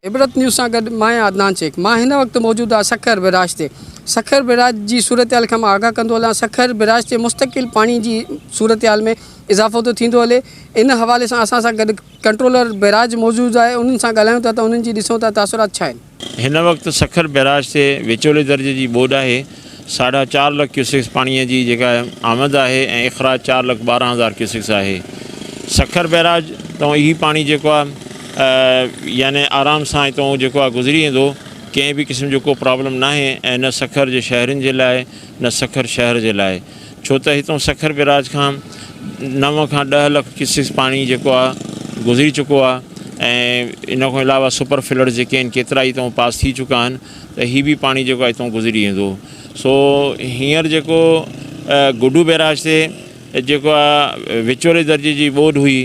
عبرت news سان گڏ مان آهيان عدنان شيخ مان هن وقت موجود آهيان سکر بيراج تي سکر بيراج جي صورتحال کان مان آگاهه ڪندو هلان سکر بيراج تي مستقل پاڻي جي صورتحال ۾ اضافو ٿو ٿيندو هلي ان حوالي سان اسان سان گڏ ڪنٽرولر بيراج موجود آهي انهن سان ڳالهايون ٿا ته انهن جي ڏسون ٿا تاثرات ڇا آهن هن وقت سکر بئراج تي وچولي درجي جي ٻوڏ آهي، ساڍا چار لک ڪيوسڪس پاڻي جي جيڪا آمد آهي ۽ اخراج چار لک ٻارهن هزار ڪيوسڪس آهي. سکر بئراج تئون هي پاڻي جيڪو آهي يعني آرام سان هتئون جيڪو آهي گذري ويندو، ڪنهن به قسم جو ڪو پرابلم ناهي ۽ نه سکر جي شهرين جي لاء نه سکر شهر جي لاء. ڇو ته هتون سکر بيراج کان نو کان ڏهه لک ڪيوسڪس پاڻي جيڪو آ گذري چڪو آ ۽ ان کان علاوه سپر فلڊز جيڪي آهن ڪيترا ئي هتون پاس ٿي چڪا آهن ته هي به پاڻي جيڪو آ هتون گذري ويندو سو هينئر جيڪو گڊو بيراج تي جيڪو آ وچولي درجي جي ٻوڏ هئي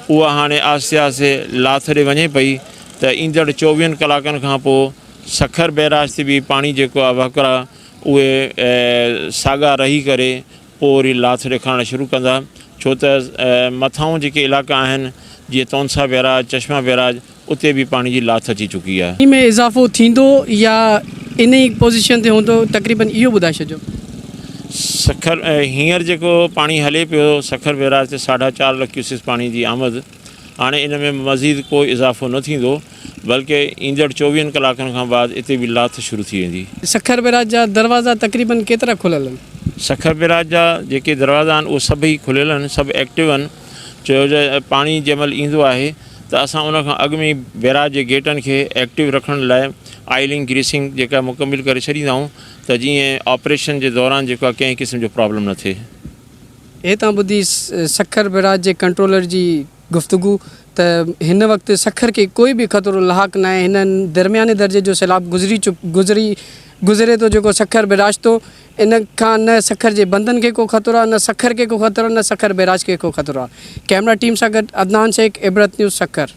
اها هاڻي آهستي آهستي لاٿ ڏي وڃي پئي ته ايندڙ چوويهن ڪلاڪن کان پوء سکر بيراج تي به پاڻي جيڪو آ وهڪرا اهي ساڳا رهي ڪري پوء وري لاٿ ڏيکارڻ شروع ڪندا ڇو ته مٿانهون جيڪي علائقا آهن جيئن تونسا بيراج، چشما بيراج اتي به پاڻي جي لاٿ اچي چڪي آهي. پاڻي ۾ اضافو ٿيندو يا ان ئي پوزيشن تي هوندو تقريبن اهو ٻڌائي ڇڏجو. سکر هينئر جيڪو پاڻي هلي پيو سکر بيراج تي ساڍا چار لک ڪيوسڪس پاڻي جي آمد. هاڻي ان ۾ مزيد ڪو اضافو نه ٿيندو بلڪه ايندڙ چوويهن ڪلاڪن کان بعد اتي به لاٿ شروع ٿي ويندي. سکر بيراج جا دروازا تقريبن ڪيترا کليل آهن؟ سکر بيراج جا جيڪي دروازا آهن اهي سڀ ئي کليل آهن، سڀ ايڪٽو آهن، ڇو جو پاڻي جنهن مهل ايندو آهي ته اسان ان کان اڳ ۾ ئي بيراج جي گيٽن کي ايڪٽو رکڻ لاء آئلنگ گريسنگ جيڪا مڪمل ڪري ڇڏيندا آهيون ته جيئن آپريشن جي دوران جيڪا ڪنهن قسم جو پرابلم نه ٿئي. اهي تان ٻڌي سکر بئراج جي ڪنٽرولر جي گفتگو ته هن وقت سکر کي ڪوئي به خطرو لاحق ناهي هن درمياني درجي جو سيلاب گذري گذري گذري ٿو جيڪو سکر بئراج ٿو ان کان نه سکر جي بندن کي ڪو خطرو آهي نه سکر کي ڪو خطرو آهي نه سکر بئراج کي ڪو خطرو آهي ڪئميرا ٽيم سان گڏ عدنان شيخ عبرت نيوز سکر.